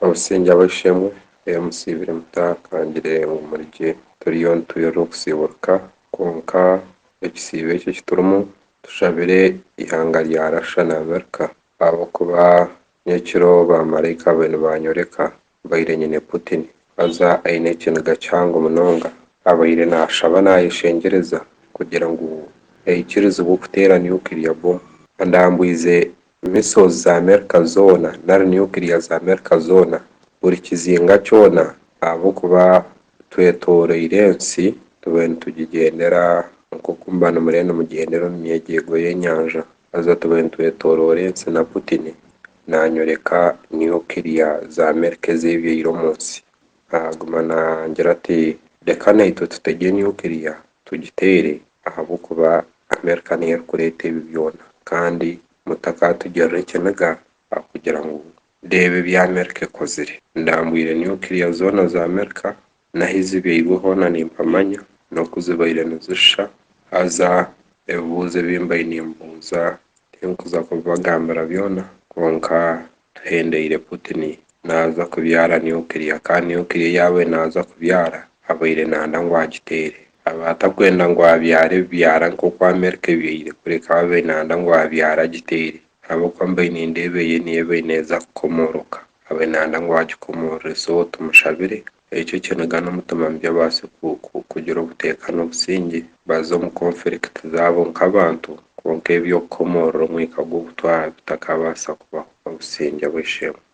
Obusingye aba ishe-emwe yamusiibire muta akangire ngu muri gye? Turiyo nitwirirwa okusiiburuka, kwonka ekisiibo eki eki turimu, tushabire eihanga rya Russia na Amerika ahabw'okuba nyekiro baamaraika be nibaanyoreka mbaire nyine Putin haza aine ekiniga kihango munonga. Abaire naashaba naayeshengyereza kugira ngu aikirizibwe okuteera nuclear bomu. Andambwize Missiles za Amerika zoona nari Nuclear za Amerika zoona, buri kizinga kyona ahabw'okuba twetoroire ensi tubaire nitugigyendera nk'oku muba nimuriyo nimugyendera omu myegyeego y'enyanja haza tubaire nitwetoroora ensi na Putin nanyoreka Nuclear za Amerika ez'ebyaire omu nsi. Naguma nangira ati reka naitwe tutege Nuclear tugiteere ahabw'okuba Amerika niyo erikureeta ebi byona kandi mutakaatugirira ekiniga ahakugira ngu reeba ebi Amerika ekozire. Ndambwire nuclear zoona za Amerika n'ahu zibyairwe hoona nimpamanya n'oku zibaire nizisha haza ebibuuzo ebi mbaire nimbuuza tinkuza kubibagambira byona kwonka Tuhendeire Putin naaza kubyara nuclear kandi nuclear yaabaire naaza kubyara abaire naanda ngu agiteere abaire atakwenda ngu abyare ebibyara nk'oku America ebyaire kureka abaire naanda ngu abyare agiteere ahabw'okuba mbaire nindeeba eye niyo ebaire neeza kukomooroka abaire naanda ngu agikomoorore so tumushabire Ekyo eky'enegana omutima mubi abaase kugira obuteekane obusingye, baza omu conflict zaabo nk'abantu, kwonka eby'okukomoorora omwika gw'obutwara bitakabaasa kubaho obusingye bw'esheema.